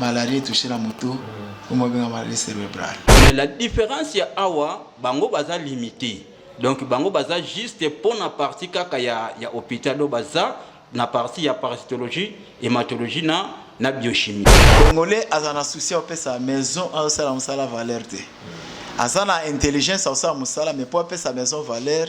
malaria etouche na moto oyo babenga malaria cerebrale mais la différence ya awa bango baza limite donc bango baza juste mpo na parti kaka ya, ya hôpital oyo baza na parti ya parasitologie hématologie na, na biochimie congolais aza na souci apesa maison azosala mosala valeur te aza na intelligence akosala mosala mais mpo apesa maison valeur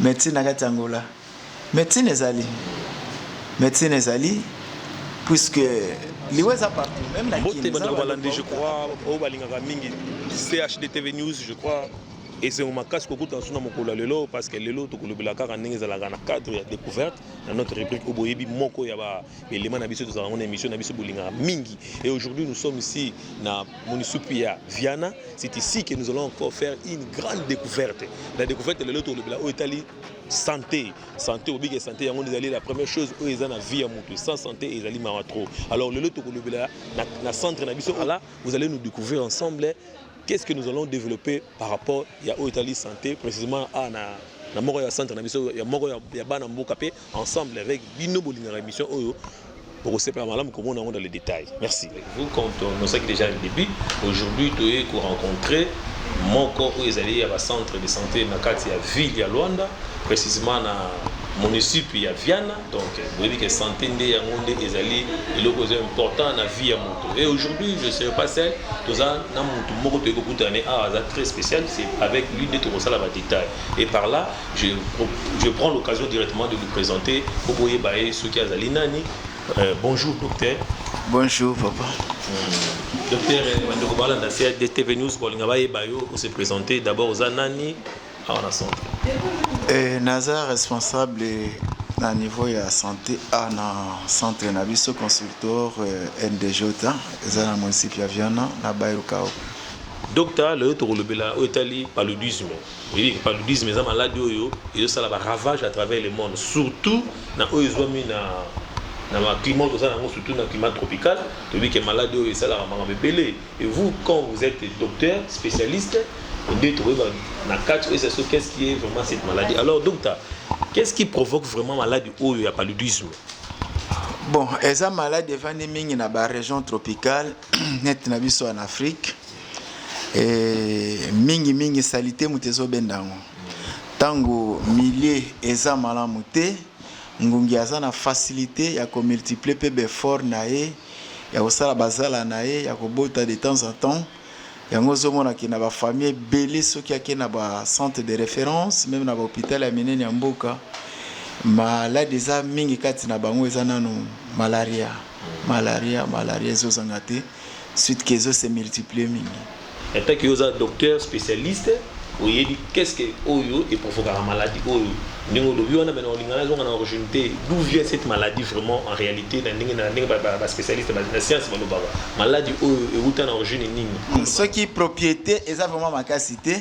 Medecine na kati ya Angola. Medecine ezali. Medecine ezali puisque liwa eza partout même na Mbote bandeko balandi je crois oyo balingaka mingi CHD TV News je crois esengo makasi kokutana so na mokolo ya lelo parce que lelo tokolobela kaka ndenge ezalaka na cadre ya découverte na notre rubrique oyo boyebi moko ya ba Elema na biso tozala yango na emission na biso bolingaka mingi et aujourd'hui nous sommes ici na munisupu ya Viana c'est ici que nous allons encore faire une grande découverte la découverte lelo tolobela oyo etali santé santé obiki ya santé yango ezali la première chose oyo eza na vie ya moto sans santé ezali mawa trop alors lelo tokolobela na, na centre na biso ala vous allez nous découvrir ensemble qu'est-ce que nous allons développer par rapport ya oyo etali santé précisément a na na moko ya centre na biso ya moko ya, ya bana mboka mpe ensemble avec bino bolingaka émission oyo bokosepela malamu komona yango dans le détail merci vous quand on osaki déjà le début aujourd'hui toye korencontre moko oyo ezali ya bacentre de santé na kati ya ville ya luanda précisément na municipe ya viana donc boyebi ke santé nde yango nde ezali eloko eza important na vie ya moto et aujourd'hui je serai pas seul toza na motu moko toyei kokutana ne awa aza très spécial c'est avec lui nde tokosala badétail et par là Je, je prends l'occasion directement de vous présenter po boyeba ye soki azali nani. Euh, bonjour docteur. Bonjour papa. Hmm. Docteur euh, bandeko balanda sia DTV News kolinga bayeba yo ko se présenter d'abord oza nani awa na centre. Eh, naza responsable na niveau ya santé a na centre na biso consultor euh, ndj eza na municipe ya viana na bairukao docta lelo tokolobela oyo etali paludisme Oyebi ke paludisme eza maladi oyo ezosala ba ravage à travers le monde surtout na oyo ezwami na na ba climat toza na yango surtout na climat tropical toyebi ke maladi oyo esalaka makambo ebele et vous quand vous êtes docteur spécialiste nde tokoyeba na kati oyo eza so qu'est ce qui est vraiment cette maladie alors docteur qu'est ce qui provoque vraiment maladi oyo ya paludisme Bon, eza malade efandi mingi na ba region tropicale net na biso en afrique e, mingi mingi salite moto ezobenda yango ntango milieu eza malamu te ngungi aza na facilité ya komultiplie mpe befort na ye ya kosala bazala na ye ya kobota de temps en temps yango ozomonaki na bafamille ebele soki ake na bacentre de référence meme na bahôpital ya minene ya mboka maladi eza mingi kati na bango eza nano malaria Malaria malaria ezo zanga te suite que ezo se multiplier mingi. En tant que yo oza docteur specialiste oyebi qu'est ce que oyo e provokaka maladie oyo ndenge olobi wana mais na olinga na zonga na origine te d'où vient cette maladie vraiment en réalité na ndenge na ndenge ba, ba, ba spécialiste ba, na science balobaka maladie oyo ewuta na origine nini soki propriété eza vraiment makasi te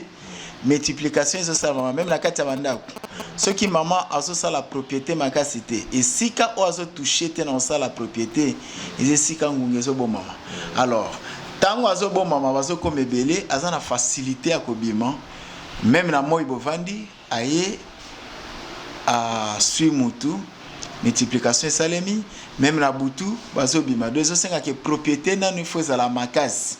multiplication ezosalama meme na kati ya bandako soki mama azosala propriété makasi te esika oyo azotouche te na kosala propriété eza esika ngunga ezobomama alors ntango azobomama bazokoma ebele aza na facilité ya kobima meme na moi bovandi aye aswi mutu multiplication esalemi meme na butu bazobima do ezosengaka propriété nanu ifo ezala makasi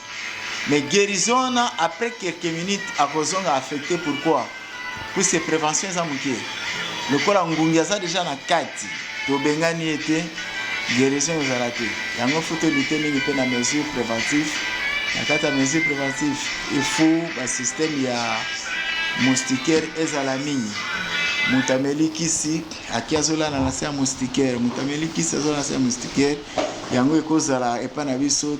Mais guérison wana après quelques minutes akozonga affecté pourquoi? Puisque prévention eza moke. Lokola ngungi aza deja na kati, tobengani ye te, guérison ezala te. Yango faut tolite mingi mpe na mesure préventive. Na kati ya mesure préventive, il faut ba système ya moustiquaire ezala mingi. Moto ameli kisi, aki azolala na se ya moustiquaire, moto ameli kisi azolala na se ya moustiquaire, yango ekozala epai na biso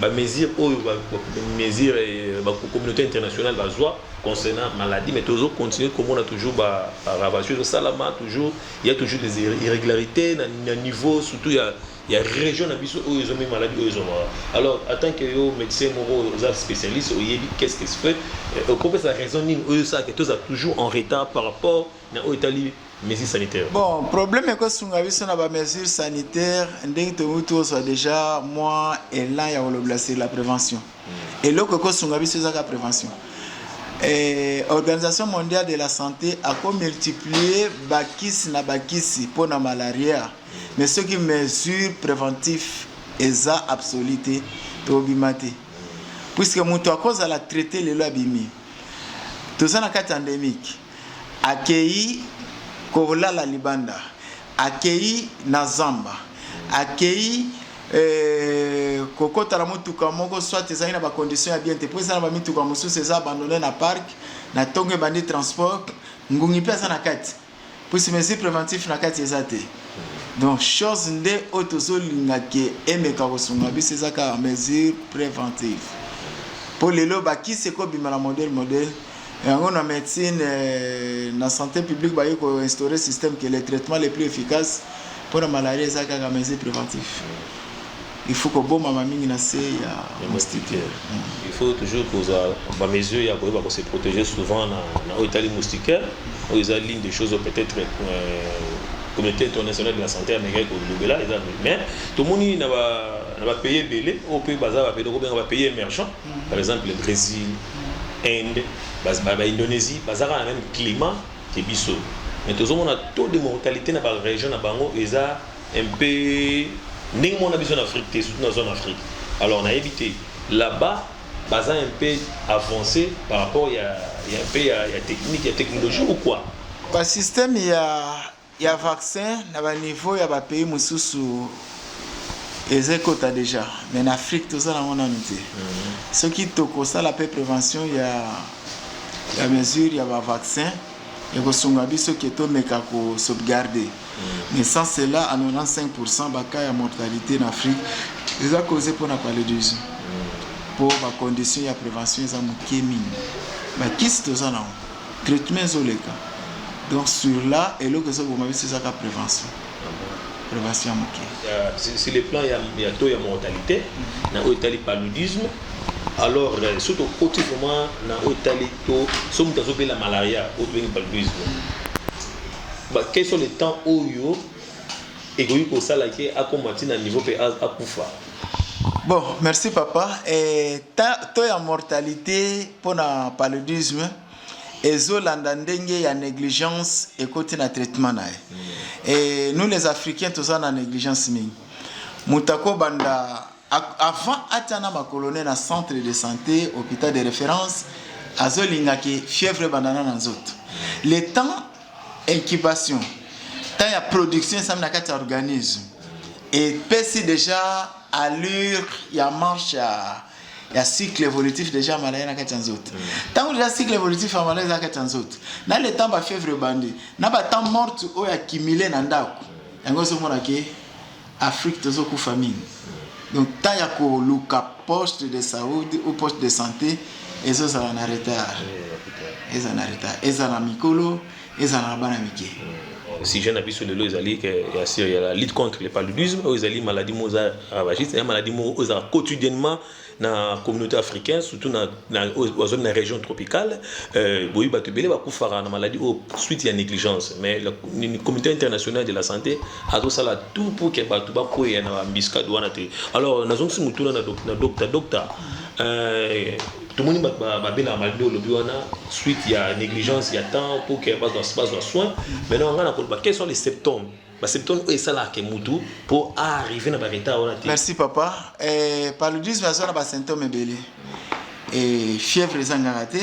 ba mesures oyo ba mesures ba communauté internationale bazwa concernant maladie mais tozo continuer komona toujours ba ravage ezo salama toujours il y a toujours des irrégularités na, na niveau surtout ya ya région na biso oyo ezomi maladie oyo ezomaka alors en tant que yo médecin moko oza spécialiste oyebi qu'est ce que se fait okopesa raison nini oyo esalaka toza toujours en retard par rapport na oyo etali mesure sanitaire bon problème ekosunga biso na bamesure sanitaire ndenge tokoki tozwa déjà mwa élan ya kolobela sur la prévention hmm. eloko ekosunga biso ezaka prévention Eh, organisation mondiale de la santé akomultiplie bakisi na bakisi mpo na malaria mais soki mesure préventif eza absolu te tobima te puiske moto akozala traite lelo abimi toza na kati endémique Akeyi kolala libanda, akeyi na zamba, akeyi euh, kokota na motuka moko soit ezali na ba conditions ya bien te, mpo eza na ba mituka mosusu eza abandonne na parc, na tongo ebandi transport, ngungi mpe aza na kati, puisque mesure preventif na kati eza te. Donc chose nde oyo tozolinga ke emeka kosunga biso eza kaka mesure preventive, mpo lelo bakisi ekobima na modèle modèle. Yango na medecine eh, na sante publique baye ko instaurer système que le traitement le plus efficace pour la malaria eza kaka mesure préventive. Il faut ko boma ma mingi na se ya moustiquaire. Mm. Il faut toujours ko za ba mesure ya ko ba ko se protéger souvent na na oyo tali moustiquaire. Oyo eza l'une des choses peut-être euh, communauté internationale de la santé américaine ko lobela eza mais tomoni na ba na ba pays belé au pays baza ba pays ko benga ba pays émergents par exemple le Bresil, Inde, ba Indonesie baza kaka na meme climat ke biso mais tozomona taux de mortalité na ba region na bango eza un peu ndenge mona biso na Afrique te surtout na zone Afrique alors nayebi te là-bas baza un peu avancé par rapport ya ya un peu ya, ya technique ya technologie ou quoi ba système ya Ya vaccin na ba niveau ya ba pays mususu eza ekota dejà mais na Afrique toza nango nanu te soki toko sala pe prevention ya ya mesure ya ba vaccin eko sunga biso ke to meka ko sauvegarde mais sans cela à 95 pourcent ba cas ya mortalite na Afrique eza cause pona paludisme po ba condition ya prevention eza muke mingi ba kisi toza nango Traitement ezo leka donc sur la eloko ezo boma biso eza ka prevention. Prevention ya muke. Sur le plan ya taux ya mortalité mm-hmm. na oyo etali paludisme alors euh, soki tokoti vraiment na oyo etali to soki moto azobela malaria oyo tobengi paludisme quel sont les temps oyo ekoki kosala ke akoma ntina niveau mpe akufa bon merci papa eh, temps ya mortalité mpo na paludisme ezolanda ndenge ya negligence ekoti na traitement na ye e nous les africains toza na negligence mingi moto akobanda avant atya na makolone na centre de santé hôpital de référence azolinga ke fièvre ebandana na nzoto le temps incubation temps ya production esami na kati ya organisme epesi déjà allure ya marche ya ya cycle évolutif déjà malaya na kati ya nzoto ntango deja cycle évolutif ya malaya eza kati ya nzoto na le temps bafièvre ebandi na batemp morte oyo accumule na ndako yango ozomona ke afrique tozokufa mingi donc temps ya koluka poste de saudi ou poste de santé ezozala na retard ezala na retard ezala na mikolo ezala na bana mike sujet na biso lelo ezali ya sur ya la lutte contre le paludisme oyo ezali maladie moko eza ravagiste eza maladie moko oyo ezalaka quotidiennement na communauté africaine surtout na, na, bazali na région tropicale euh, boyebi bato ebele bakufaka na maladie oyo suite ya négligence mais la, comité international de la santé azosala tout pour ke bato bakweya na bambiskade wana te alors nazongisi motuna na docta docta euh, Tomoni bato babelaka maladie oyo olobi wana suite ya negligence ya temps pour que bazwa bazwa soin. Maintenant ngai nakoloba quels sont les symptômes ba symptômes oyo esalaka ke mutu mpo arrive na ba retard wana te. Merci papa. Eh, paludisme aza na ba symptômes ebele. Eh, fièvre ezangaka te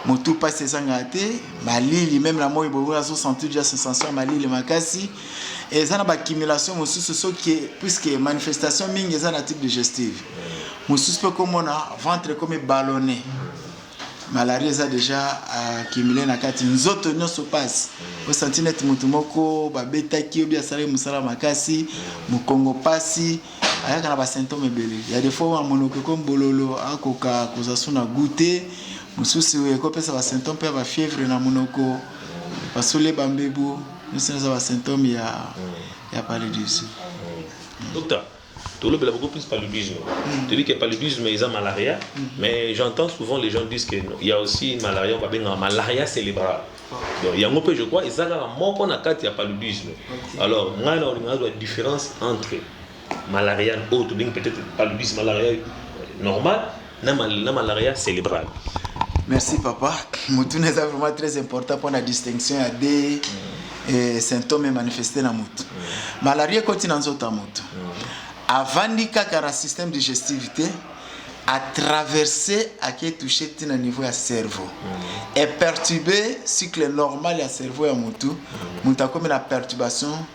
motu mpasi ezangaka te malili meme na moi boye azosentir ja sensation ya malili makasi eza na bacumulation mosusu soki puisque manifestation mingi eza na type digestive mosusu mpe komona ventre ekomi ballonne malaria eza déjà accumule na kati nzoto nyonso mpasi osanti neti motu moko babetaki obi asalaki mosala makasi mokongo mpasi ayaka na basymptome ebele ya defo ya monoko ekomi bololo akoka kozwa so na gout te mosusu ekopesa basymptome mpe ya bafievre na monoko basole bambebu Nionso eza ba symptome ya ya paludisme. Docta, tolobela beaucoup plus paludisme. Toyebi que paludisme eza malaria, mais j'entends souvent les gens disent que il ya aussi malaria oyo babengaka malaria cerebrale. Donc yango mpe je crois eza kaka moko na kati ya paludisme. Alors ngai nakolinga nazwa difference entre Malarial oyo tobengi peut-être paludisme malarial normal na, mal, na malaria cérébrale. Merci papa. Motuna eza vraiment très important mpo na distinction ya de mm. eh, symptome emanifeste na motu mm. malaria ekoti na nzoto ya motu mm. avandi kaka na système digestif te atraverse ake touche ti na niveau ya cerveau mm. eperturbe cycle normal ya cerveau ya motu mm. motu akomi na perturbation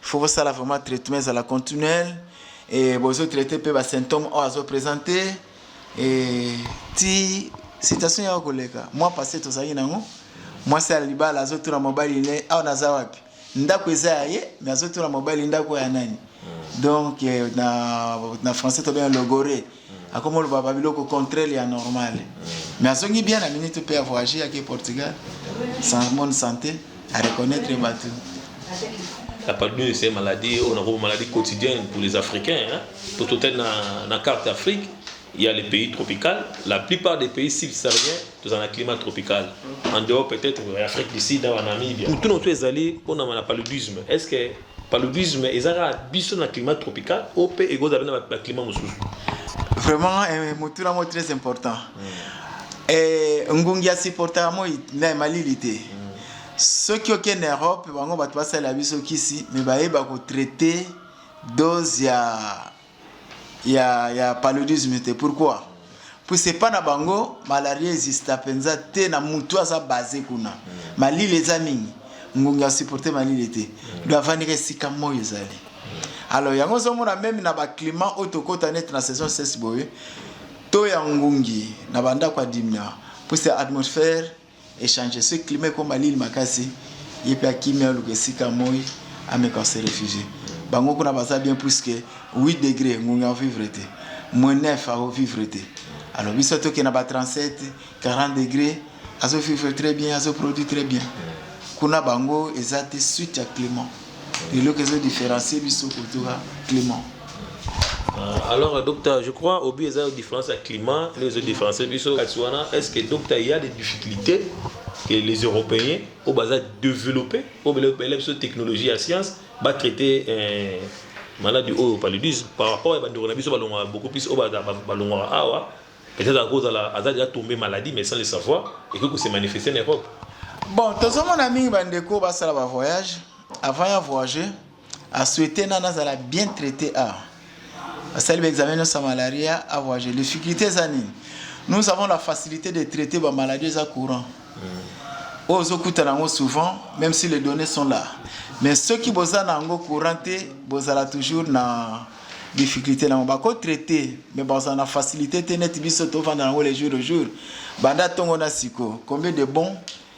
faut bosala vraiment traitement ezala continuel e bozo traite mpe basymptome oyo azo présente e ti situation yako koleka mwa passe tozalaki nango mwasi ya libala azotuna mobali ne awa naza wapi ndako eza ya ye me azotuna mobali ndako ya nani donc na, na français tobenga logore akomi oloba ba biloko contraire ya normal mais azongi bien na minute mpe avoyage ake portugal sans bonne santé à reconnaître bato la paludose c'est maladie on a une maladie quotidienne pour les africains hein? pour toute la, la carte d'afrique il y a les pays tropicaux. La plupart des pays subsahariens, ils ont un climat tropical. En dehors, peut-être, l'Afrique du Sud, en Namibie. Tout notre ezali, on a le paludisme. Est-ce que Paludisme eza kaka biso na climat tropical ou pe ekozala pe na ba climat mosusu? Vraiment eh, motuna moko très important mm. eh, ngungi asupportaka moi na malili te mm. soki okende europe bango bato basalela biso kisi me bayeba kotraite dose ya ya ya paludisme te pourquoi puis c'est pas na bango malaria exista penza te na mutu aza base kuna malili eza mingi ngungi ya supporter malili te do avandika esika moi ezali alors yango ozomona meme na baclimat oyo tokota neti na saison sese boye to ya ngungi na bandako ya dimia puise atmosphère Echange soki climat ekoma lili makasi ye pe akimi aluka esika moyi ameka ko se refugier bango kuna baza bien puisque 8 degre ngungi ako vivre te moins 9 ako vivre te alors biso toke na ba 37 40 degre azo vivre très bien azo produit très bien kuna bango eza te suite ya climat eloko ezo différencier biso kotoka climat euh, alors euh, docteur je crois obi eza yo différence ya climat nde ezo différencier biso kati wana est ce que docteur ya des difficultés que les européens oyo baza développé oyo bela biso technologie ya science batraite euh, maladi oyo paludisme par rapport ya bandeko na biso balongwaka beaucoup plus oyo balongwaka awa Peut être ako zala aza deja tombe maladie mais sans le savoir et que ko se manifester en Europe. Bon, tozo mona mingi ba ndeko ba sala ba voyage avant ya voyager a souhaiter nana zala bien traité a asali ba examen no sa malaria a voyager. Difficulté eza nini? Nous avons la facilité de traiter ba maladies eza courant. Mm. Ozo kuta nango souvent même si les données sont là. Mais ceux qui boza nango courant te bozala toujours na difficultes nango bako traite mais bazala na facilite te neti biso tovanda nango le jour au jour banda tongo na siko combien de bon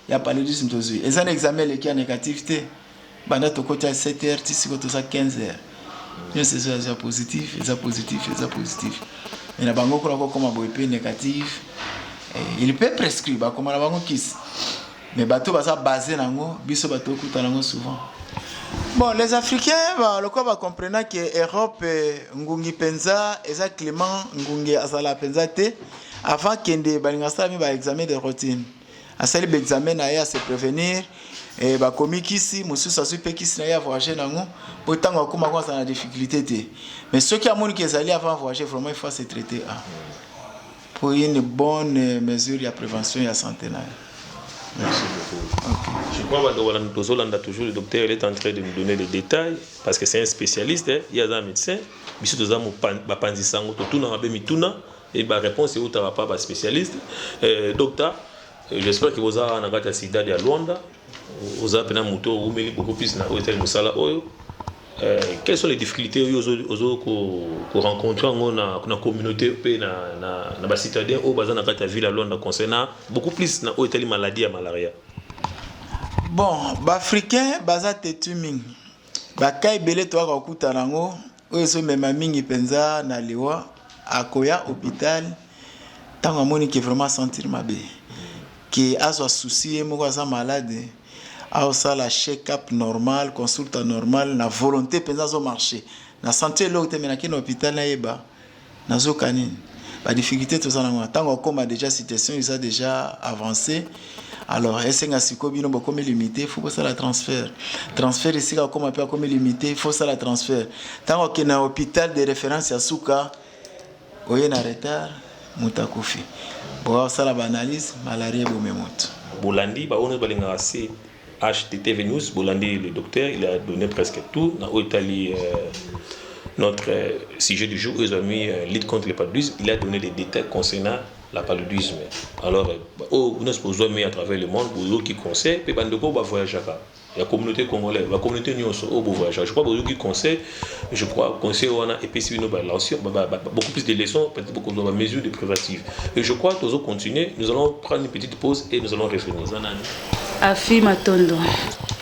ya paludisme tozwi eza na examen eleki ya négatif te banda tokoti ya 7 heures ti siko toza 15 heures nyonso ezo eza positif eza positif eza positif mais na bango kuna kokoma boye mpe négatif eh, il peut prescrire bakoma na bango kisi Mais bato baza base nango biso bato okuta nango souvent. Bon, les Africains ba lokola ba comprena que Europe eh, ngungi penza eza climat ngungi azala penza te avant kende balinga sala mi ba examen de routine. Asali ba examen na ye à se prévenir eh, bakomi kisi mosusu azwi mpe kisi na ye ya voyage nango mpo ntango akoma ko azala na difficulté te mais soki amoni ke ezali avant voyage vraiment il faut se traiter ah. pour une bonne mesure ya prevention ya sante na yo. Merci beaucoup. Okay. Je crois bando balanda tozolanda toujours le docteur il est en train de nous donner les détails parce que c'est un spécialiste eh? ye aza médecin biso toza bapanzi sango totunaka be mituna et ba réponse eutaka pa ba spécialiste eh, docteur j'espère que boza na kati ya sida ya luanda Oza pena mutu oyo oumeli beaucoup plus na oyo etali musala oyo. Euh, quelles sont les difficultés oyo ozo, ozo ko, ko rencontrer yango na, na communauté mpe na, na, na ba citadins oyo baza na kati ya ville ya Luanda concernant beaucoup plus na oyo etali maladie ya malaria? Bon, ba africains baza têtu mingi. Ba cas ebele toyaka kokutana yango Oyo ezo mema mingi penza na liwa akoya hopital tango amoni ke vraiment a sentir mabe ke azwa souci ye moko aza malade ao sala check up normal consulta normal na volonte penza azo marche na sentir eloko te mais na ke na hopital na yeba Nazo ka nini? Ba difficultes toza nango na tango akoma dejà situation eza dejà avance alors esenga sikoyo bino bokomi limite faut bosala transfert transfert esika akoma pe akomi limite faut sala transfert tango akende na hôpital de référence ya suka oye na retard moto akufi bokosala ba analyse malaria ebomi moto bolandi baoyo nyonso balingaka se HTTVnews bolandi le docteur il a donne presque tout na oyo etali notre sujet du jour oyo ezwami lutte contre le paludisme il a donne des détails concernant la paludisme alors oyo nyonso bozwami à travers le monde boyoki conseil mpe bandeko oyo bavoyageaka ya communauté congolaise ba communauté nyonso oyo bovoyageaka je crois boyoki conseil Je crois conseil wana epesi bino ba leçons, beaucoup plus de leçons, peut-être beaucoup de mesures de préventive. Et je crois toujours continuer, nous allons prendre une petite pause et nous allons revenir. Afi Matondo.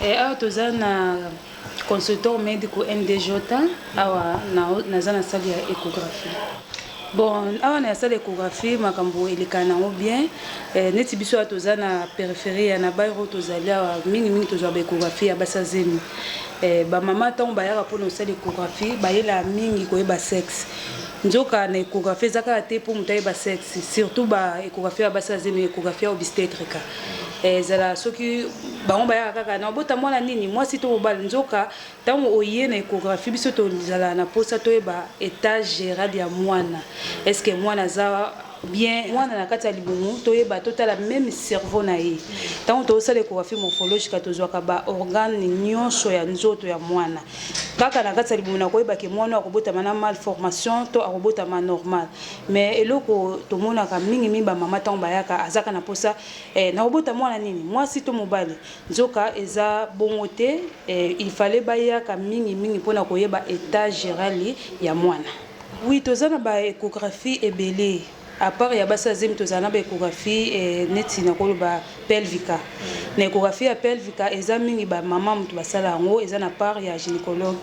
Et awa toza na consultant médico MDJ awa naza na salle ya échographie. Bon awa na salle echographie makambo elekana nango bien eh, neti biso awa toza na peripherie ya nabairo tozali awa mingimingi tozwa baechographie ya basi ya zemi eh, bamama ntango bayaka mpo na osala echographie bayelaa mingi koyeba sexe nzoka na echographie eza kaka te mpo moto ayeba sexe surtout baechographie ya basi ya zemi echographie ya obstetrica eh, ezala soki bango bayaka kaka na obota mwana nini mwasi to mobali nzoka Tango oye na echographie biso tozalaka na posa toyeba etat geral ya muana est ce que muana aza bien muana na kati ya libumu toyeba totala meme cerveau na ye tango tozosala echographie morphologica tozwaka ba organe nionso ya nzoto ya muana kaka na kati ya libumu na koyeba ke muana akobotama na malformation to akobotama normal mais eloko tomonaka mingi mingi ba mama tango bayaka azaka na posa eh, nakobota muana nini mwasi to mobali Nzoka eza bongo te eh, il fallait ba yaka mingi mingi pona ko yeba etat gerali ya mwana. Oui toza na ba echographie ebele a part ya basi ya zemi tozala na ba echographie eh, neti nakoloba pelvica na echographie ya pelvica eza mingi ba maman mutu basala yango eza na part ya gynécologue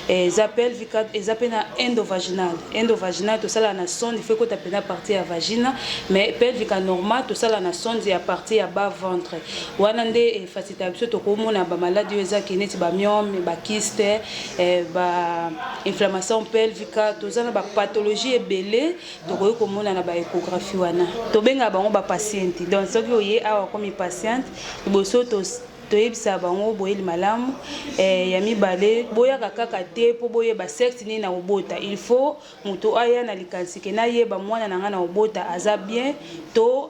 eh, eza pelvica eza pe na endovaginal endovaginal tosala na sonde il faut ekota pena partie ya vagina mais pelvica normal tosala na sonde ya partie ya bas ventre Wana nde eh, facilité ya biso tokomona ba maladi oyo ezaki neti ba myome ba kiste eh, ba inflammation pelvica toza na ba pathologie ebele tokoki komona na ba échographie wana tobengaka bango ba patiente donc soki oye awa komi patiente liboso toyebisa bango boyeli malamu eh, ya mibale boyaka kaka te mpo boyeba sexe nini na kobota il faut moto aya na likanisi ke nayeba mwana na ngai na kobota aza bien to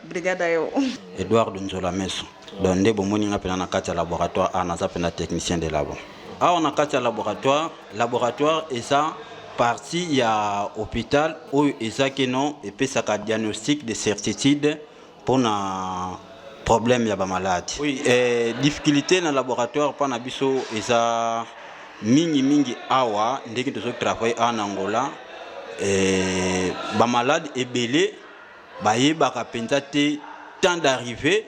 brigade ayo Edouard Nzola Meso donc nde bomoni nga pena na kati ya laboratoire a naza pena technicien de labo awa na kati ya laboratoire laboratoire eza partie ya hôpital oyo eza keno epesaka diagnostic de certitude mpona problème ya bamaladi oui, eh, difficulté na laboratoire mpa na biso eza mingimingi awa ndenge tozotravaille awa na angola eh, bamaladi ebele Bayebaka mpenza te temps d'arrivee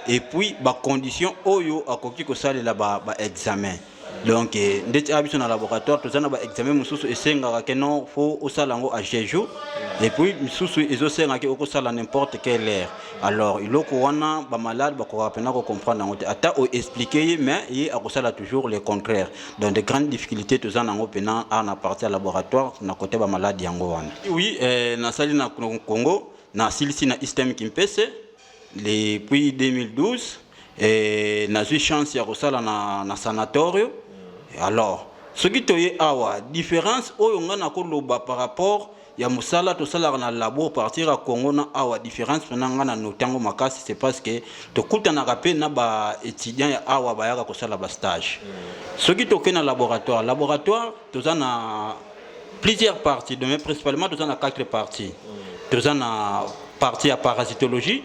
et puis ba conditions oyo akoki kosalela ba, ba examen donc eh, ndeti a biso na laboratoire toza na ba examen mosusu esengaka ke non fo osala yango a jeju et puis misusu ezosenga ke okosala n'importe quelle heure alors iloko wana bamalade bakokaka mpena kocomprendre yango te ata oexplike ye mais ye akosala toujours le contraire donc de grandes difficultés toza nango mpena awa na parti ya laboratoire na kote bamaladi yango wana oui eh, nasali na congo nasilisi na istem kimpese depuis 2012 eh, nazwi chance ya kosala na, na sanatorio alors soki toye awa différence oyo ngai nakoloba par rapport ya mosala tosalaka na labo partir ya congo na awa différence mpona ngai na notango makasi c'est parce que tokutanaka mpe na baétudiant ya awa bayaka kosala bastage soki tokei na laboratoire laboratoire toza na plusieurs parties dome principalement toza na quatre parties toza na partie ya parasitologie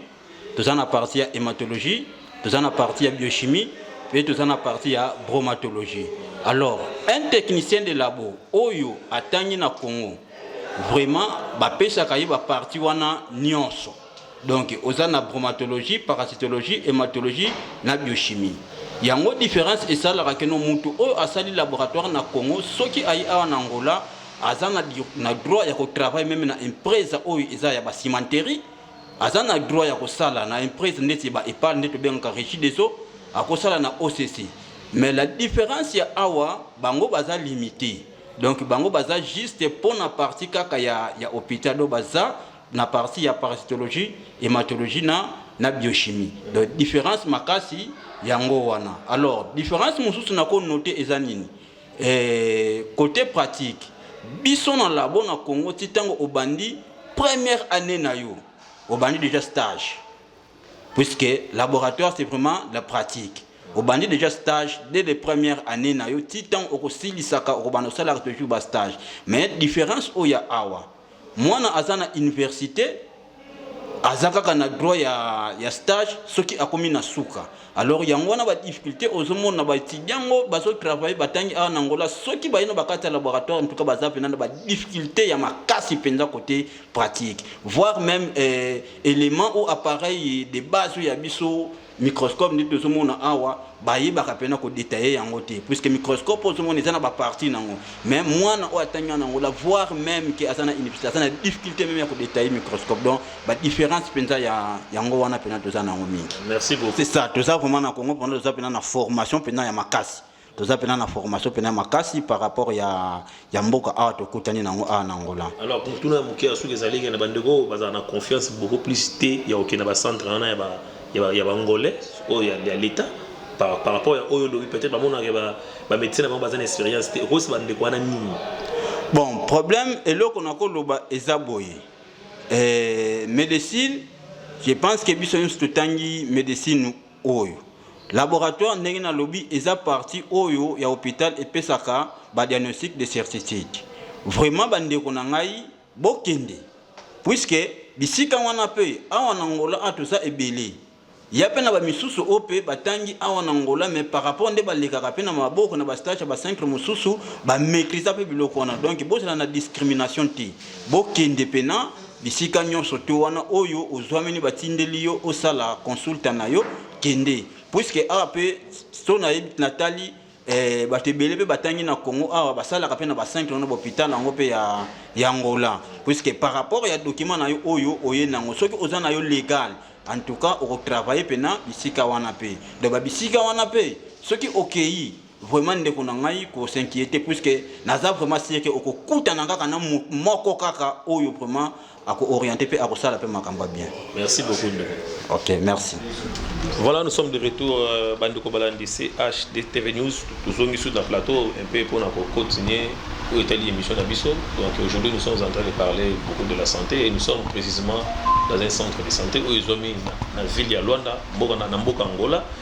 toza na parti ya hematologie toza na parti ya biochimie mpe toza na parti ya bromatologie alors un technicien de labo oyo atangi na congo vraiment bapesaka ye baparti wana nyonso donc oza na bromatologie parasitologie hematologie na biochimie yango différence esalaka keno motu oyo asali laboratoire na congo soki ayi awa na angola aza na, na droit ya kotravaille meme na empresa oyo eza ya bacimenterie aza na droit ya kosala na emprese ndeti ba epal nde tobengaka regi des eaux akosala na occ mais la différence ya awa bango baza limite donc bango baza juste mpo na parti kaka ya, ya hôpital do baza na parti ya parasitologie hématologie na, na biochimie donc différence makasi yango wana alors différence mosusu nakonote eza nini Eh, cote pratique biso na labo na congo ti ntango obandi première année na yo obandi déjà stage puisque laboratoire c'est vraiment la pratique obandi déjà stage dès les premières années na yo ti ntango okosilisa okobanda osalaka toujours ba stage mais différence oyo ya awa mwana aza na université aza kaka na droit ya, ya stage soki akomi na suka alors yango wana badifficulté ozomona baetudia yango bazotravaille batangi awa na ngola soki baye na bakati ya laboratoire ntuka baza mpena na badifficulté ya makasi mpenza côté pratique voire même eh, élément ou appareil de base oyo ya biso microscope nde tozomona awa bayebaka mpena kodetaille yango te puisque microscope ozomona eza na baparti nango mais mwana oyo atangi wana yango la voir même ke aza na université aza na difficulté meme ya kodetaille microscope donc badifférence mpenza ya yango wana mpena toza na yango mingi c'est ça toza vraiment na congo mpena toza mpena na formation mpena ya makasi toza pena na formation pena makasi par rapport ya, ya mboka awa tokutani nango awa na angola alors motuna ya moke ya soki ezali ke na bandeko oyo bazala na confiance beaucoup plus te ya kokende bacentre wana ya, ba, ya, ba, ya baangolais oyo ya, ya l'état par, par rapport ya oyo olobi peut-être bamonaka bamédecin ba na bango baza na expérience te okosi bandeko wana nini bon problème eloko nakoloba eza boye eh, médecine je pense que biso nyonso totangi médecine oyo. Laboratoire ndenge na lobi eza partie oyo ya hopital epesaka ba diagnostic de certitude. Vraiment ba ndeko na ngai bokende puisque bisika wana pe awa na Angola a toza ebele. Ya pe na ba misusu oyo pe batangi awa na Angola mais par rapport nde balekaka pe na maboko na ba stage ya ba centre mosusu ba maîtrisa pe biloko wana donc bozala na discrimination te bokende pena Bisika nyonso to wana oyo ozwamini batindeli yo osala consulta na yo kende puiske awa mpe so nayebi natali eh, bato ebele mpe batangi na congo awa basalaka mpe na bacentre wana bahopital yango mpe ya, ya ngola puiske par rapport ya document na yo oyo oye nango soki oza na yo legal en tout cas okotravaille mpe na bisika wana mpe donc babisika wana mpe soki okei vraiment ndeko na ngai ko s'inquiéter puisque naza vraiment sieke okokutana kaka na moko kaka oyo vraiment ako-orienter mpe akosala mpe makambo ya bien merci beaucoup ndeko ok merci voilà nous sommes de retour euh, bandeko balandi chdtv news tozongisi na plateau un peu mpona kocontinue oyo etali émission na biso donc aujourd'hui nous sommes en train de parler beaucoup de la santé et nous sommes précisément dans un centre de santé oyo ezwami na ville ya luanda mboka na mboka angola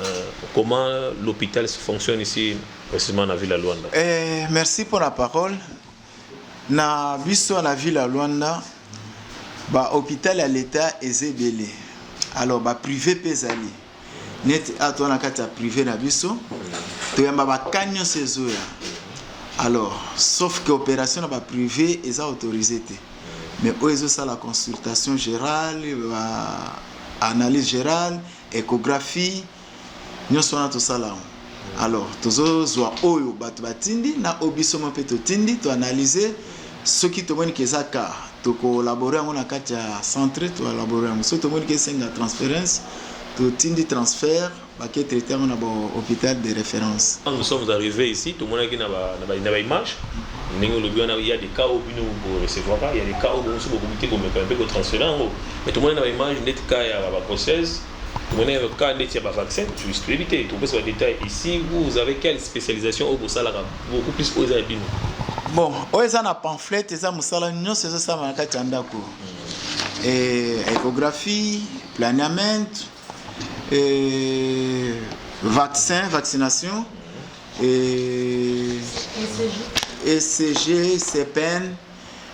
Euh, comment l'hôpital se fonctionne ici, précisément na ville ya Luanda? Eh, merci mpo na parole. Na biso na ville ya Luanda, ba hôpital ya l'État eza ebele. Alors ba privé mpe ezali. Neti awa toza na kati ya privé na biso, toyamba ba cas nyonso ezoya. Alors, sauf que opération na ba privé eza autorisé te. Mais oyo ezosala consultation générale, ba analyse générale, Echographie nionso wana tosala yango alors tozo zua oyo batu batindi na oyo biso moko pe totindi to analyser soki tomoni ke eza cas toko laborer yango na kati ya centre to laborer yango soki tomoni ke esenga transference totindi transfert bake traiter yango na ba hopital de reference. Quand nous sommes arrives ici tomonaki na ba na ba image ndenge olobi wana il ya des cas oyo bino bo recevaka il ya des cas oyo bino mususu bokoki te komeka pe ko transferer yango Mais tomoni na ba image ndeti cas ya ba grossesse, tomoni na cas ndeti ya ba vaccin, toyebi te, topesa ba detail ici, vous vous avez quelle specialisation oyo bosalaka beaucoup plus oyo eza ya bino? Bon, oyo eza na pamphlet, eza mosala nyonso ezosalama na kati ya ndako. Hmm. Eh, echographie, planiament, eh, vaccin, vaccination, hmm. eh, ECG, e CPN,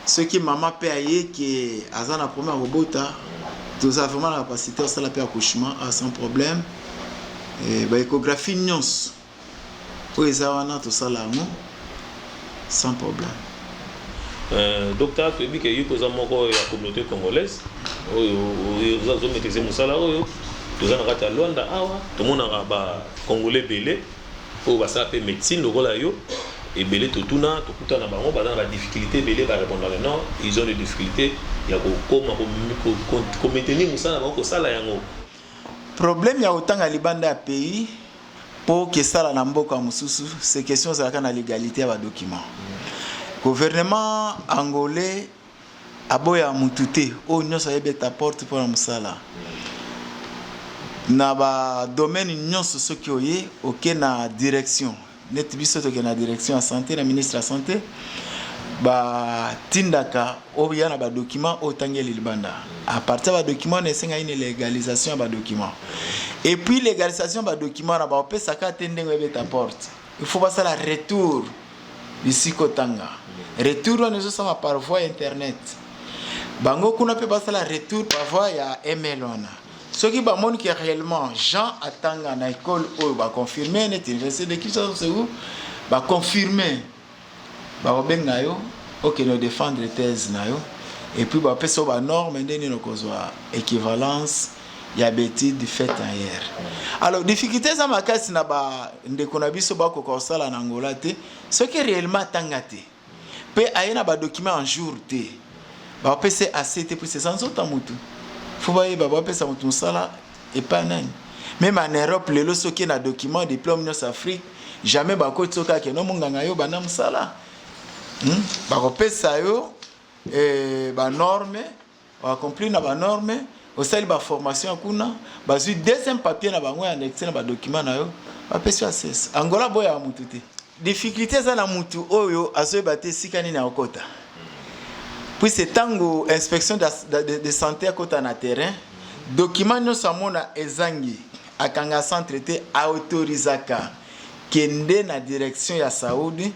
Soki maman pe aye que aza na problème ya kobota toza vraiment na capacité asala pe accouchement ah, sans problème eh, ba échographie nyonso oyo eza wana tosala yango sans problème. Euh, docteur toyebi ke yo mpe oza moko ya communauté congolaise oyo oza zo maîtrise mosala oyo toza na kati ya luanda awa tomonaka ba congolais ebele oyo basala pe medecine lokola yo ebele totuna tokutana na bango baza na ba difficultes ebele ba repondre que non ils ont des difficultes ya kokoma ko maintenir mosala na bango kosala yango Problème ya kotanga libanda ya pays po kesala na mboka mosusu c'est question ozalaka na legalite ya ba documents. Gouvernement angolais Aboya mutu te, oyo nionso aye beta porte pona musala. Na ba domaine nionso soki oye, oke na direction, neti biso toke na direction ya sante na ministre ya sante, ba tindaka oya na ba documents oyo otangeli libanda. A partir ya ba documents wana esengaki ni legalisation ya ba documents. Et puis legalisation ya ba documents wana ba kopesa ka te ndenge oye beta porte. il faut basala retour bisika otanga retour wana ezosala par voie internet bango kuna mpe basala retour par voie ya email wana soki bamoni ke réellement jean atanga na ekole oyo baconfirme neti université de kinshasa ou baconfirme Bakobenga yo okende o defendre thèse na yo et puis bapesa yo ba normes nde nini okozwa equivalence ya ba etudes faites ailleurs. Alors difficultes eza makasi na ba ndeko na biso bakoka kosala na Angola te soki réellement atanga te pe aye na ba documents en jour te bapesa ye assez te puisque eza nzoto ya mutu faut bayeba bapesa mutu musala Epa nani? Meme en Europe lelo soki na document diplome nionso Afrique jamais bakoti soki ake no munganga yo banda musala hmm? bakopesa yo eh, banorme oaccomplir na banorme osali baformation ya kuna bazwi deuxième papier na bango ya annexe na badocument na yo bapesi yo ases angola boyaka motu te difficulté eza na mutu oyo azoyeba te esika nini akokota puise ntango inspection de, de, de, de santé akota na terrain document nyonso amona ezangi akanga centre te aautorisaka kende na direction ya saudi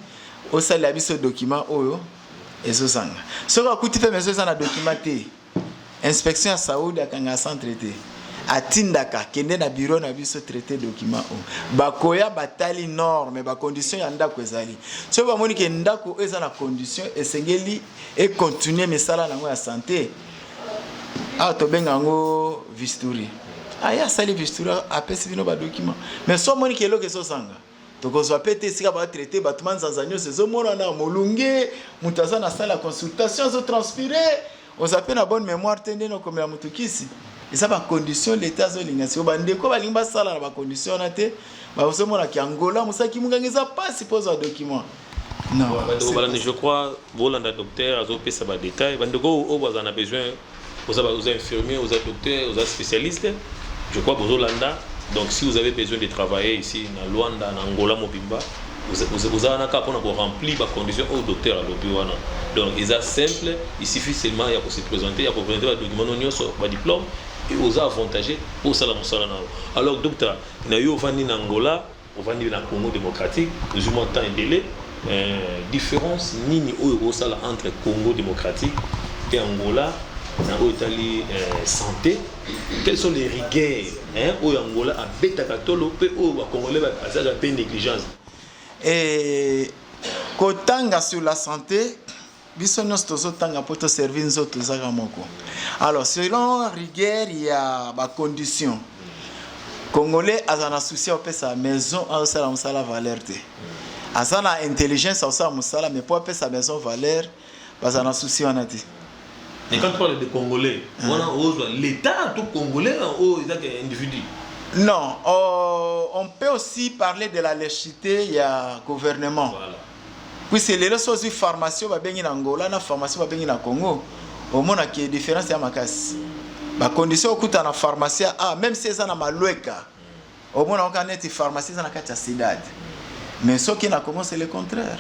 osalela biso document oyo ezozanga soki akuti mpe meso eza na document te Inspection ya Saudi akanga centre te. Atindaka kende na bureau na biso traiter document o. Bakoya batali norme, ba conditions ya ndako ezali. Soki bamoni ke ndako oyo eza na condition esengeli e continuer misala nango ya santé. Awa tobenga yango visturi. Aya asali visturi apesi bino ba document. Mais soki omoni ke eloko ezozanga tokozwa mpe te esika batraite bato manzanza nyonso ezomonana molunge moto aza na sala ya consultation azotranspire oza mpe na bonne mémoire te ndeni okomela moto kisi eza bacondition leta azolinga siko bandeko balingi basala na bacondition wana te bazomonaka yangola mosaki monganga eza mpasi mpo ozwa document bandeko balandi je crois bolanda docteur azopesa badetail bandeko oyo bazala na besoin oza infirmier oza docteur oza spécialiste je crois bozolanda donc si vous avez besoin de travailler ici na luanda na angola mobimba oza wana kaka mpona koremplir bacondition oyo docteur alobi wana donc eza simple il suffit seulement ya kose présenter ya koprésente badocument no nyonso badiplôme oza avantage mpo osala mosala na yo alors docteur na yo ovandi na angola Ovandi na Congo democratique ozui mwa temps ebele difference nini oyo okoki kosala entre Congo democratique et Angola na oyo etali sante quelles sont les rigueurs oyo Angola abetaka tolo mpe oyo ba Congolais bazalaka mpe negligence? Kotanga sur la sante. biso nyonso tozotanga mpo toservi nzoto ezaka moko alors selon rigueur ya bacondition congolais aza na souci ya kopesa maison azosala mosala valeur te aza na intelligence akosala mosala mais mpo apesa maison valeur baza na souci wana te Et quand tu parles de Congolais, hein. on a osé l'État, tout Congolais, on oh, a des individus. Non, euh, on peut aussi parler de la légèreté, il y a gouvernement. Voilà. Puisque lelo so ozwi pharmacie oyo babengi na Angola na pharmacie oyo babengi na Congo, omona ke difference ya makasi. Ba conditions okuta na pharmacie ya A, même si eza na Malueka, omona oka neti pharmacie eza na kati ya cidade. Mais soki na Congo c'est le contraire.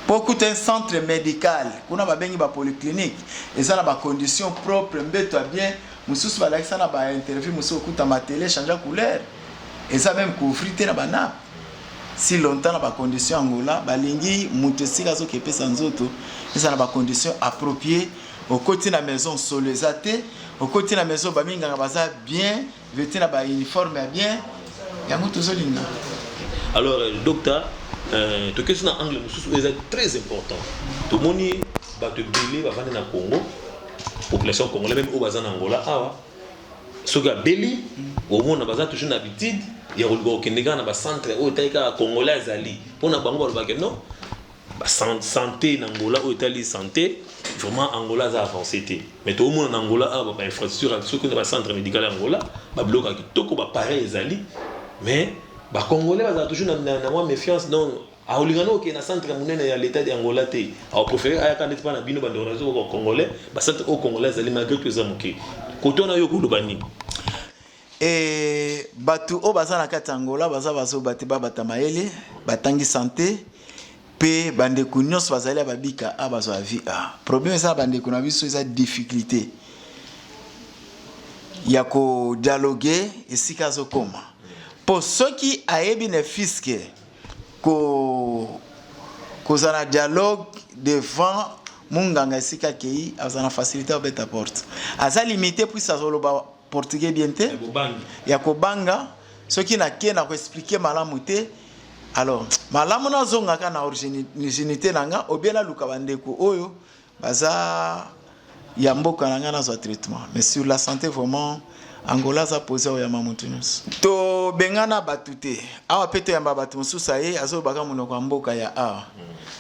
Mpo okuta un centre medical, kuna babengi ba polyclinique, eza na ba conditions propre, mbeto ya bien, mosusu balakisa na ba interview mosusu okuta matele echangea couleur, eza meme couvri te na ba nape. si longtemps na ba conditions Angola balingi mutu esika azo kepesa nzoto eza na ba conditions appropriées okoti na maison solo eza te okoti na maison ba minganga baza bien vêtu na ba uniforme ya bien yango tozolinga alors euh, docteur euh, tokesi na angle mosusu oyo eza très important tomoni bato ebele bavandi na congo population congolais meme oyo baza na angola awa soki abeli omona baza toujours na habitude ya koluka kokende kaka na bacentre oyo etali kaka congolais azali mpo na bango balobake non sante na angola oyo etali sante vraiment angola aza avance te mais toomona na angola awa bainfrastructure soki na bacentre médical ya angola babiloko ya kitoko bapareil ezali mais bacongolais bazala toujours na mwa méfiance donc Akolinga no okende na centre ya munene ya l'etat de Angola te. Ako prefere ayaka ndeti pa na bino ba ndeko na biso ba congolais. Ba centre oyo congolais azali malgre tout eza muke. Kote wana yo koloba nini? Et batu oyo baza na kati ya Angola baza bazoba te babata mayele batangi sante mpe bandeko nyonso bazali ya babika a bazwa vie a problème eza na bandeko na biso eza difficulté ya kodialoge esika azokoma mpo soki ayebi ne fiske Ko kozana dialogue devant munganga esika kei azana facilité abeta porte aza limité puis azoloba portugais bien te ya kobanga soki na ke na ko expliquer malamu te alors malamu nazongaka na origine na nga obie naluka bandeko oyo baza ya mboka na ngai nazwa traitement mais sur la santé vraiment angola aza posi akoyamba motu nyonso tobengana bato te awa mpe toyamba bato mosusu aye azolobaka monoko ya mboka ya awa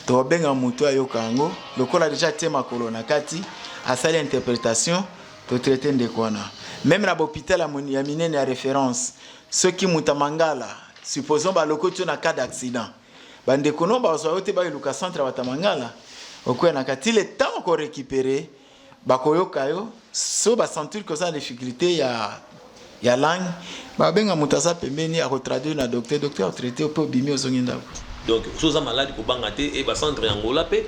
tokobenga motu ayoka yango lokola deja atie makolo na kati asali interpretation totraite ndeko wana meme na bahopital ya minene ya référence soki moto ya mangala supposons balokoti yo na cas d'accident Ba ndeko no bazwa yo te ba eluka centre ya Batamangala okuya na kati le temps ko récupérer bakoyoka yo so ba sentir que oza na difficulté ya ya langue babenga moto aza pembeni akotraduire na docteur docteur atraite mpe obimi ozongi ndako donc soki oza maladi kobanga te e bacentre ya ngola mpe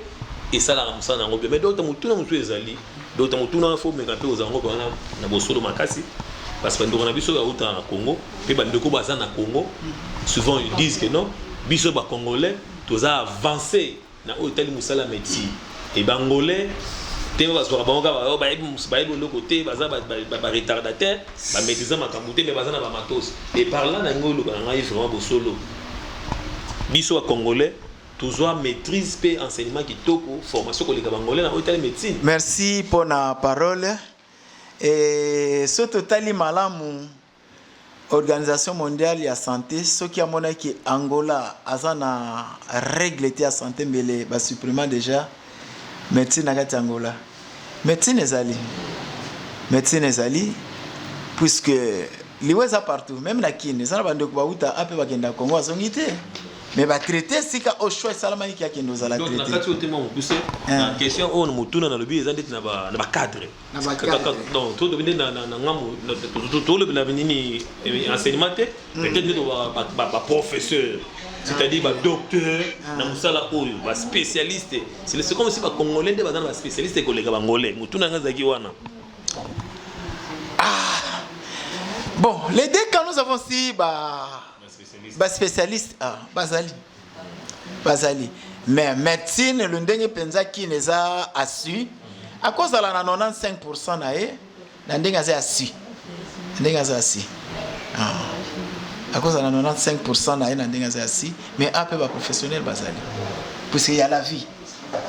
esalaka mosala na yango bien mais docteur motuna mosusu ezali donc ntango tuna wana fo omeka mpe ozala ngo wana na bosolo makasi parce que bandeko na biso oyo awutaka na congo mpe bandeko baza na congo souvent ils disent que non biso bacongolais toza avance na oyo etali mosala ya médecine e bangolais te bazwaka bango kaka oh, bayebi bayebi eloko te baza baretardataire bamaîtrisa makambo te me baza na bamatos e par là na yango oloba na ngai vraiment bosolo biso bacongolais tozwa maîtrise pe enseignement kitoko formation koleka bangolais na oyo etali médecine merci mpo na parole e, so totali malamu organisation mondiale ya santé soki amonaki angola aza na règle te ya santé mbele basupprima déjà Medecine na kati ya Angola. Medecine ezali. Medecine ezali puisque liwa eza partout meme na Kin eza na bandeko bauta ape bakenda Congo azongi te mais batraite esika oyo choix esalamaki ke akende ozala traite. Donc na kati oyo te mwa mokuse na question oyo motuna nalobi eza ndeti na bacadre ba tolobi nde na ngambo tolobela nini enseignement te peut-être nde baprofesseur c'est-à-dire badocteur na mosala oyo baspécialiste c'est comme si bacongolais nde baza na baspécialiste koleka bangolais motuna yango ezalaki wana bon les deux cas nous avons si ba baspécialiste bazali bazali mais medecine le ndenge penza kin eza assu akozala na 95 pourcent na ye na ndenge aza assu ndenge aza assu ah. akozala na 95 pourcent na ye na ndenge aza assu mais a mpe baprofessionnel bazali puisque ya la vie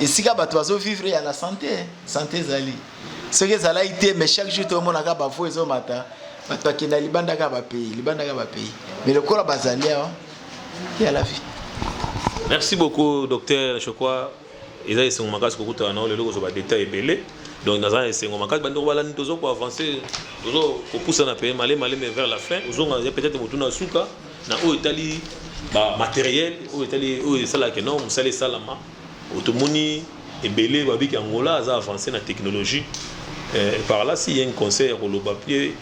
esika bato bazovivre ya la santé santé ezali soki ezalaki te mais chaque jour tomonaka bafo ezomata bato bakenda libanda kaka bapayi libanda kaka bapayi mais lokola bazali awa ya la vie. Merci beaucoup docteur Shokwa eza esengo makasi kokutana nao lelo kozwa badetail ebele donc naza na esengo makasi bandeko balandi tozo koavance tozo kopusana mpe male male mais vers la fin ozonga ya peut-être motuna ya suka na oyo etali bamateriel oyo etali oyo esalaka no mosala esalama Oyo tomoni ebele babi ki Angola aza avance na technologie eh, par là si ye conseil ya koloba mpe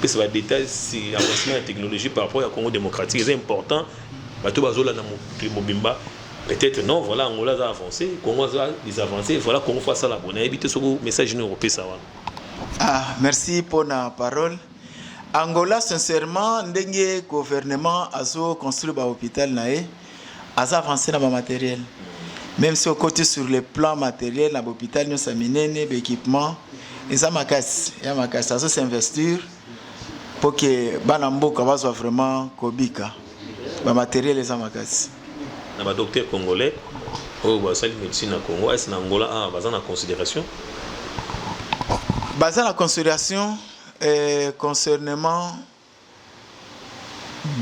pesa ba détails si avancement ya technologie par rapport ya Congo démocratique eza important bato bazolanda mokili mobimba peut-être non voilà Angola aza avance Congo aza des avancés voilà Congo faut asala boye nayebi te soki message nini okopesa wana ah merci mpo na parole Angola sincèrement ndenge gouvernement azo construire ba hôpital na ye aza avance na bamateriel meme si okoti sur le plan materiel na bahopital nyonso ya minene baéquipement eza makasi ya makasi azo s'investir mpo ke bana mboka bazwa vraiment kobika bamateriel eza makasi na badocteur congolais oyo basali médecine na congo ese na angola awa ah, baza na considération baza na considération eh, concernement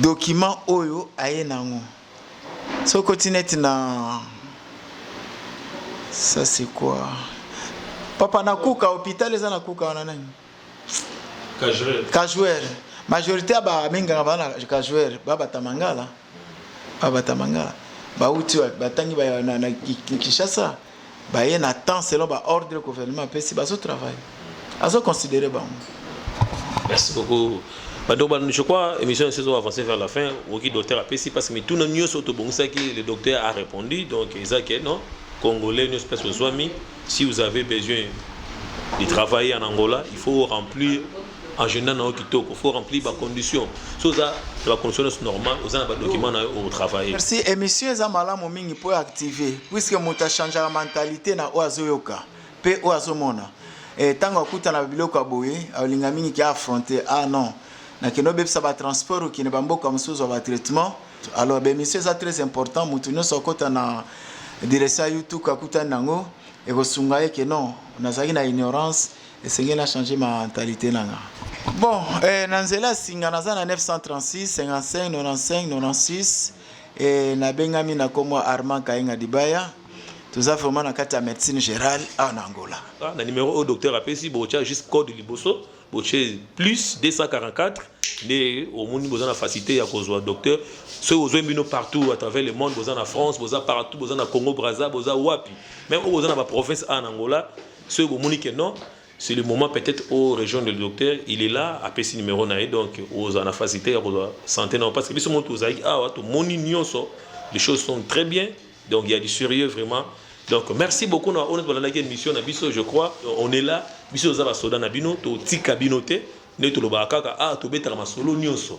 document oyo aye nango soki koti neti na ça c'est quoi papa na kuka hôpital eza na kuka wana nani kajouer majorité ya baminganga bana kajouer babata mangala babata mangala bauti wapi batangi na kinshasa ba, baye na temps selon ba ordre gouvernement apesi bazo travail azo considere bango merci beaucoup donc je crois émission ya saison avancée vers la fin oki docteur apesi parce que mituna nyonso tobongisaki le docteur a répondu donc eza ke non congolais nyonso place ozwami si vous avez besoin de travailler en angola il faut remplir agenda na yo kitoko faut remplir ba conditions so oza na ba conditions nyonso normal oza na ba documents na yo otravaille merci émission eza malamu mingi mpo active puisque moto achangeaka mentalité na oyo azoyoka mpe oyo azomona ntango eh, akutana na biloko ya boye alinga mingi ke affronte ah non nakende obebisa batransport okende bamboka mosusu ya batraitement alors baémission eza très important moto nyonso akota na direction ya youtube akutani na yango ekosunga ye ke non nazalaki na ignorance Esengeli na changer mentalite nanga. Bon, eh, na nzela ya singa naza na 936 55 95 96 eh, nabengami na kombo Armand Kainga Dibaya toza vraiment na kati ya médecine générale awa na angola ah, na numéro oyo docteur apesi botya juste code liboso botye plus 244 nde omoni boza na facilité ya kozwa docteur soki ozwi bino partout à travers le monde boza na france boza partout boza na congo braza boza wapi meme oyo boza na baprovince a na angola soki bomoni ke non c'est le moment peut-être au région de docteur il est là apesi numéro na ye donc ozala na facilité ya kozwa santé na yo parce que biso moko tozalaki awa tomoni nyonso les choses sont très bien donc il y a du sérieux vraiment donc merci beaucoup na oyo tolandaki émission na biso je crois on est là biso toza basoda na bino totika bino te nde tolobaka kaka ah tobetaka masolo nyonso